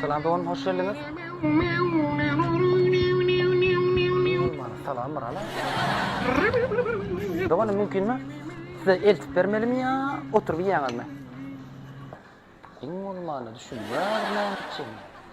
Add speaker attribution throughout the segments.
Speaker 1: Salam dogan hoş geldiňiz. Salam Mirala. Dogan mümkinmi? Size eltip bermelimi ya oturup yiýäňizmi? Iň bolmanda düşünýärmi?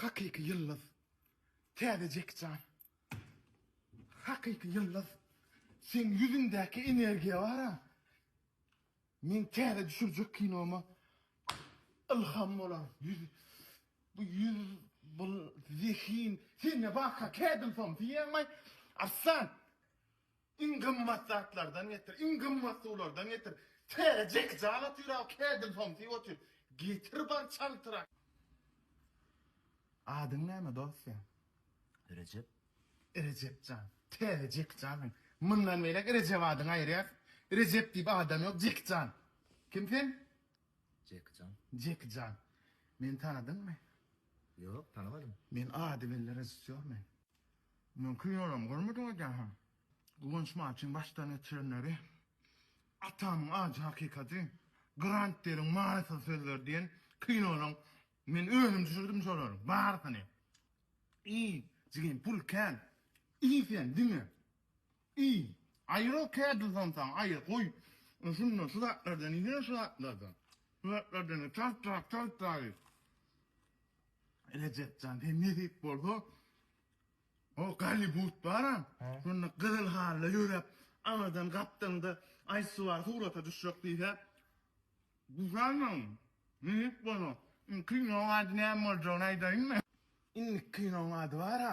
Speaker 2: Hakyky ýyldyz. Täze Jeki Çan. Hakyky ýyldyz. Seň ýüzüňdäki energiýa bar-a. Men täze düşürjek kinoma ylham bolan ýüz. Bu ýüz, bu zehin. Sende barka kädil som diýýäňmi? Arslan! Iň gymmat zatlardan getir, iň gymmat suwlardan getir. Täze jekije al otyr aw, kädil somsy otyr. Getir bar çaltyrak. Adyň näme dosýa? Rejep. Rejep jan, täze jekije alyň. Mundan beýläk Rejep adyňy aýyrýas. Rejep diýip adam ýok, Jeki jan. Kim sen? Jeki jan. Jeki jan. Meni tanadyňmy? Ýok,
Speaker 3: tanamadym. Men ady belli
Speaker 2: režissýor men. Men kinolarmy görmedim edähem. Guwanç Matyň başdan geçirenleri, Atamyň ajy hakykaty, Grant Deliň manysyz sözleri diýen kinolaryň men özüm düşürdim şolaryň barysyny. I, jigim pul kän. I sen diňe. I, aýyral kädil samsaň aýyr goý şundan şu zatlardan iýsene şu zatlardan. Şu zatlardan çalt çalt çalt çalt iý. Rejep jan sen nesip bolsa o Gollywud bara şonda gyzyl halyda ýöräp aňyrdan gapdalyňda aýsy bar surata düşjek diýse düşermiň nesip bolsa. Kinoň ady näme boljagyny aýdaýynmy? Indiki kinoň ady bara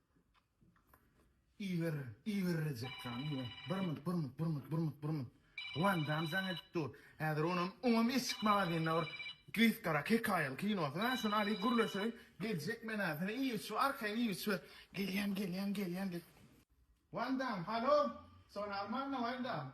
Speaker 2: Iýgir, iýgirrejekka, iýgir. Bir minut, bir minut, bir minut, bir minut, bir minut. Wan Dam jaň edip dur. Häzir onam, oňam eşik magazynda bir gysgarak hekaýaly kinosy bar, şony alyp gürleşeýin. Geljek men-ä, seni iýgir şu arkaýyn iýgir şu. Gelýän, gelýän, gelýän diýip. Wan Dam, halo! Soragyň barmy, Wan Dam?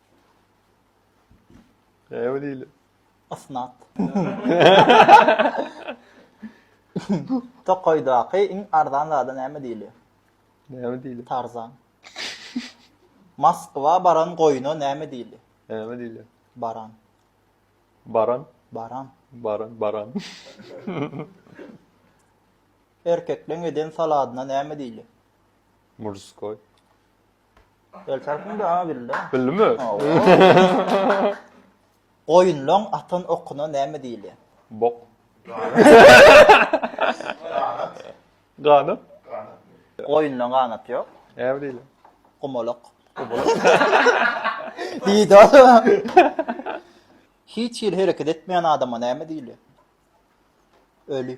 Speaker 4: Näme diýilýär? Ysnat.
Speaker 5: Tokaýdaky iň arzan zada näme diýilýär? Näme diýilýär?
Speaker 4: Tarzan.
Speaker 5: Moskwa baran goýuna näme diýilýär? Näme diýilýär?
Speaker 4: Baran.
Speaker 5: Baran. Baran.
Speaker 4: Baran, baran.
Speaker 5: Erkekleň eden saladyna näme diýilýär? Murskoý. El tarpyň da a bildi. Bildimi? Goýunlaň atan okuna näme diýilýär? Bok.
Speaker 4: Ganat.
Speaker 5: Goýunlaň ganaty ýok. Näme diýilýär?
Speaker 4: Gumalak.
Speaker 5: Diýdi adam. Hiç hili hereket etmeýän adama näme diýilýär? Öli.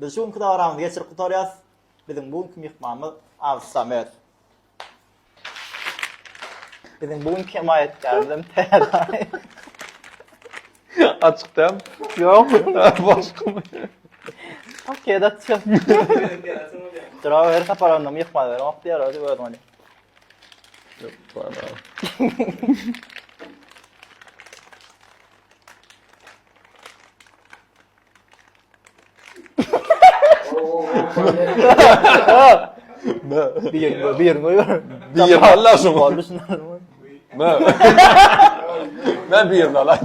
Speaker 5: Biz şu günki dabaramyzy geçirip gutarýas. Biziň bu günki myhmanymyz Arzuw Samet. Biziň bu günki hemaýatkärimiz hem täze.
Speaker 4: Açyk däl. Ýok.
Speaker 5: Başgamy.
Speaker 4: Okey,
Speaker 5: dat çyk. Dura her saparanda myhman beren ok diýer, özi özüň öli. Ýok,
Speaker 4: bana.
Speaker 5: Biýerin goý, biýerin goý. Biýerin
Speaker 4: Allah şuň. Boldy şuň. Mä. Mä biýerin Allah.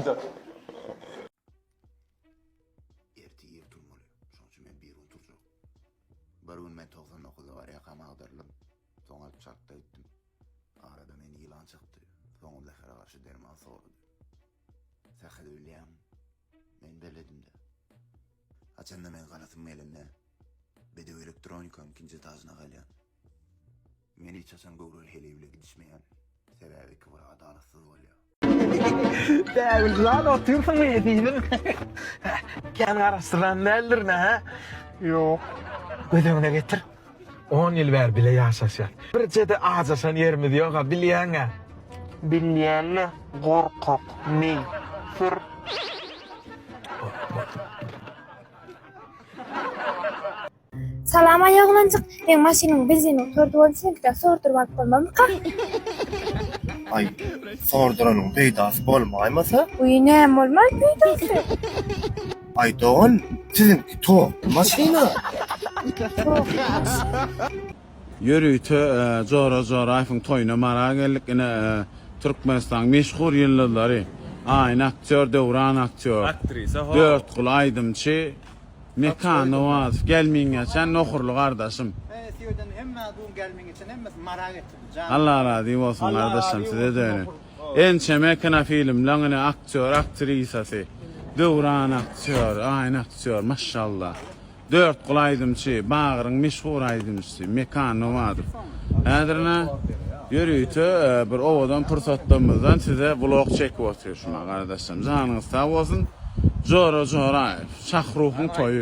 Speaker 6: Erti ýer turmaly. Şoň üçin men bir gün turjak. Bir gün men 99-da bar ýakam agdyrylym. Soň alyp çartda gitdim. Arada men ýylan çykdy. Soň zähere garşy derman sordy. Sähel bilýäň. Men beledimde. Haçanda men galasym gelende, bedew elektronikanyň ikinji etažyna galýan. Men hiç haçan göwreli heleý bilen gidişmeýän, sebäbi iki bir adalatsyz bolýar. Bägüljan,
Speaker 3: otyrsyňmy ezizim? Kän garaşdyran däldir-le, hä? Ýok. Göz öňüne getir. On ýyl bäri bile ýaşaşýas. Birje-de ajaşan ýerimiz ýog-a, bilýäň-ä. Bilýän-le, gorkak, meý. Sür.
Speaker 7: Salam aý oglanjyk, seň maşynyň benzini gutardy boldy senikidan sorduryp alyp bolmazmyka?
Speaker 2: Aý, sorduranyň peýdasy bolmaýmasa? Wiý, näme
Speaker 7: bolmaý peýdasy?
Speaker 2: Ay dogan sizinki to maşina.
Speaker 8: Ýörite Jora Joraýewiň toýuna mara geldik. Ine Türkmenistanyň meşhur ýyldyzlary, Aýna aktýor, Döwran aktýor, Dörtguly
Speaker 3: aýdymçy,
Speaker 8: Mekan Nowazow, Gelmiňeçen Nohurly gardaşym.
Speaker 5: Alla razy
Speaker 8: bolsun gardaşjan size-de önen. Ençeme kinofilmleň ine aktýor aktrisasy Döwran aktýor Aýna aktýor maşşallah Dörtguly aýdymçy Bagryň meşhur aýdymçysy Mekan Nowadow Häzir ine ýörite bir owadan pursatlarymyzdan size vlog çekip otyşma gardaşym janyňyz sag bolsun Jora Joraýew Şahruhyň toýy.